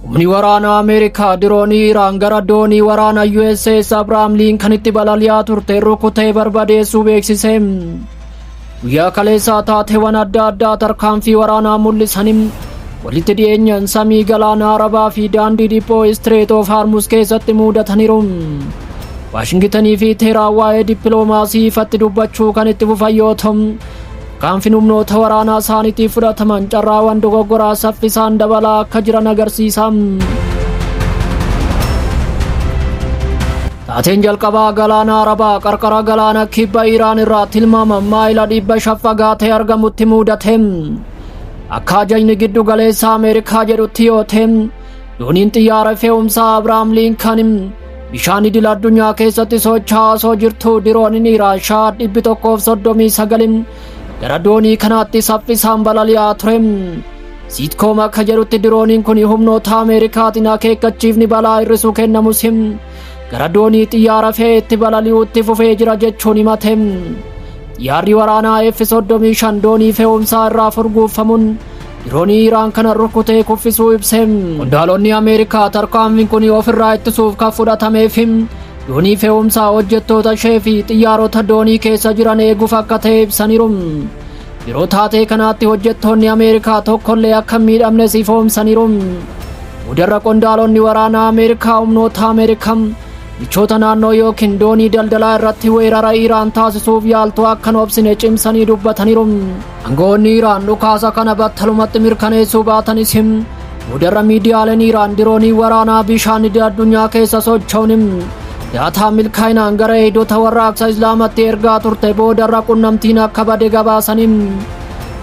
Humni waraanaa Ameerikaa diroonii Iraan gara doonii waraana USS Abrahaam Liinkanitti balali'aa turte rukutee barbadeessuu beeksise. Guyyaa kaleessaa taateewwan adda addaa tarkaanfii waraanaa mul'isaniin walitti dhiyeenyaan samii galaana Arabaa fi daandii dhiphoo Istireet of Harmus keessatti muudataniiru. Waashingitanii fi Teeraan waa'ee dippiloomaasii ifatti dubbachuu kan itti fufan yoo ta'u, Kan finumnoota waraanaa isaaniitiif fudhataman carraawan dogoggoraa saffisaan dabalaa akka jiran agarsiisa. Taateen jalqabaa galaana Arabaa qarqara galaana kibba Iraan irraa tilmaama maayila dhibba shan fagaatee argamutti muudate. Akka ajajni giddu galeessa Ameerikaa jedhutti yoo ta'e, dooniin xiyyaara fe'umsaa Abrahaam Liinkan Bishaan idil addunyaa keessatti socho'aa osoo jirtuu dirooniin Iraashaa dhibbi tokkoof soddomii sagalin gara doonii kanaatti saffisaan balali'aa ture. Siitkoom akka jedhutti dirooniin kun humnoota Ameerikaatiin akeekkachiifni balaa hir'isuu kennamus gara doonii xiyyaara fe'ee itti balali'uutti fufee jira jechuun himate. Xiyyaarri waraanaa F-35 doonii fe'umsaa irraa furguuffamuun Diroonii Iraan kana rukutee kuffisuu ibse. Qondaalonni Ameerikaa tarkaanfiin kun ofirraa ittisuuf kan fudhatameef doonii fe'umsaa hojjettoota ishee fi xiyyaarota doonii keessa jiran eeguuf akka ta'e ibsaniiru. Yeroo taatee kanaatti hojjettoonni Ameerikaa tokkollee akka hin miidhamnes ifoomsaniiru. Boodarra qondaalonni waraanaa Ameerikaa humnoota Ameerikaa michoota naannoo yookiin doonii daldalaa irratti weerara Iraan taasisuuf yaaltu akka hin obsine cimsanii dubbataniiru. Angawoonni Iraan dhukaasa kana battalumatti mirkaneessuu baatanis boodarra miidiyaaleen Iraan diroonii waraanaa bishaan idil addunyaa keessa socho'uun daataa milkaa'inaan gara eegdota warraaqsa Islaamatti ergaa turte boodarra qunnamtiin akka bade gabaasanii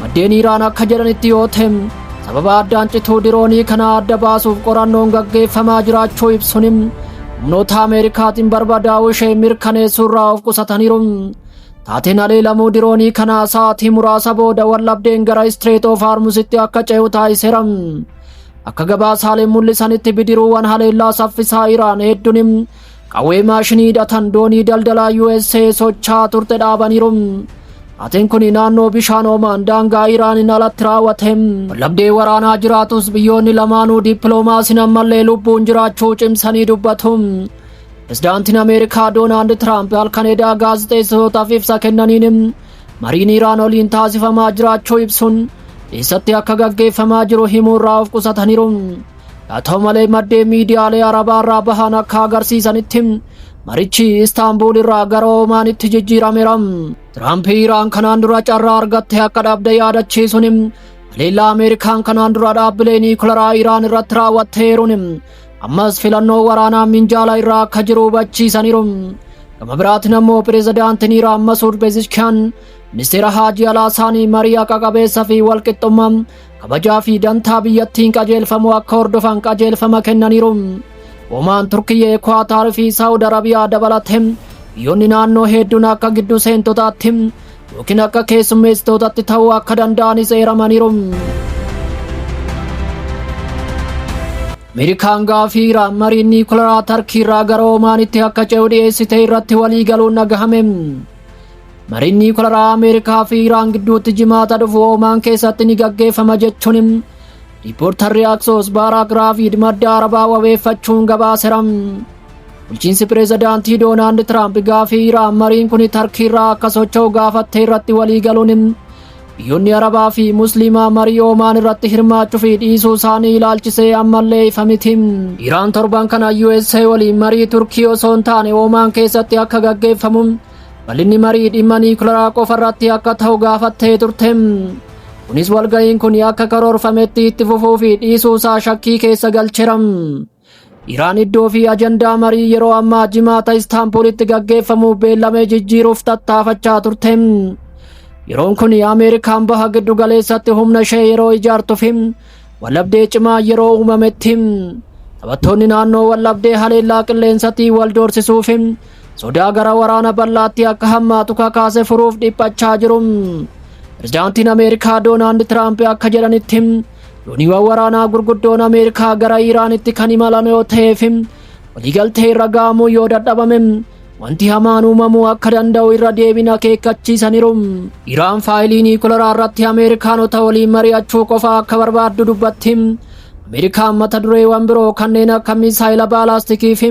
maddeen Iraan akka jedhanitti yoo ta'e sababa addaan cituu diroonii kana adda baasuuf qorannoon gaggeeffamaa jiraachuu ibsuun humnoota Ameerikaatiin barbadaa'uu ishee mirkaneessuurraa of qusataniiru. Taateen haleelamuu diroonii kanaa sa'aatii muraasa booda wallabdeen gara Istireet of Haarmusitti akka ce'u taasiseera. Akka gabaasaaleen mul'isanitti bidiruuwwan haleellaa saffisaa Iraan hedduun qawwee maashinii hidhatan doonii daldalaa USA socho'aa turte dhaabaniiru. Taateen kun naannoo bishaan Omaan daangaa Iraaniin alatti raawwate. Wallabdee waraanaa jiraatus biyyoonni lamaanuu dippiloomaasiin ammallee lubbuun jiraachuu cimsanii dubbatu. Pirezidaantiin Ameerikaa Doonaald Tiraamp halkan edaa gaazexeessitootaaf ibsa kennaniin mariin Iraan waliin taasifamaa jiraachuu ibsuun eessatti akka gaggeeffamaa jiru himuurraa of qusataniiru. Haa ta'u malee maddeen miidiyaalee Arabaa irraa bahan akka agarsiisanitti marichi Istaanbuul irraa gara Oomaanitti jijjiirameera. Tiraamp Iraan kanaan dura carraa argatte akka dhabde yaadachiisuun haleellaa Ameerikaan kanaan dura dhaabbilee niikularaa Iraan irratti raawwatteeruun Ammas filannoo waraanaa minjaala irraa akka jiru hubachiisaniiru. Gama biraatiin ammoo pirezidaantiin Iraan Masuud Pezeshkian ministeera haajii alaa isaanii marii haqa qabeessa fi walqixxummaa kabajaa fi dantaa biyyattiin qajeelfamu akka hordofan qajeelfama kennaniiru. Omaan Turkiyyee, Kuwaataar fi Saawud Arabiyaa dabalatee biyyoonni naannoo hedduun akka giddu seentotaatti yookiin akka keessummeessitootatti ta'uu akka danda'anis eeramaniiru. Ameerikaan gaafii Iraan mariin niikularaa Tarkii irraa gara Omaanitti akka ce'u dhiyeessite irratti walii galuun dhagahame. Mariin niikularaa Ameerikaa fi Iraan gidduutti jimaata dhufu Omaan keessatti ni gaggeeffama jechuun riippoortarri Aksoos Baaraak Raafiid madda Arabaa wabeeffachuun gabaaseera. Bulchiinsi pireezidaantii Doonaald Tiraamp gaafii Iraan mariin kun Tarkiirraa akka socho'u gaafattee irratti walii galuun biyyoonni Arabaa fi Musliimaa marii Oomaan irratti hirmaachuu fi dhiisuu isaanii ilaalchisee ammallee ifa miti. Iraan torban kana USA waliin marii Turkii osoo hin taane Oomaan keessatti akka gaggeeffamu bal'inni marii dhimma niikularaa qofa irratti akka ta'u gaafattee turte. Kunis walga'iin kun akka karoorfametti itti fufuu fi dhiisuu isaa shakkii keessa galcheera. Iraan iddoo fi ajandaa marii yeroo ammaa jimaata Istaanbulitti gaggeeffamu beellamee jijjiiruuf tattaafachaa turte. Yeroon kun Ameerikaan baha giddu galeessatti humna ishee yeroo ijaartu fi wallabdee cimaa yeroo uumametti taphattoonni naannoo wallabdee haleellaa qilleensatti wal doorsisuu fi sodaa gara waraana bal'aatti akka hammaatu kakaase furuuf dhiphachaa jiru. Pirezidaantiin Ameerikaa Doonaald Tiraamp akka jedhanitti Dooniiwwan waraanaa gurguddoon Ameerikaa gara Iiraanitti kan imalan yoo ta'ee fi waliigaltee irra ga'amuu yoo dadhabame wanti hamaan uumamuu akka danda'u irra deebiin akeekkachiisaniiru. Iraan faayilii niikularaa irratti Ameerikaanota waliin mari'achuu qofa akka barbaaddu dubbatti. Ameerikaan mata dureewwan biroo kanneen akka misaayila baalaastikii fi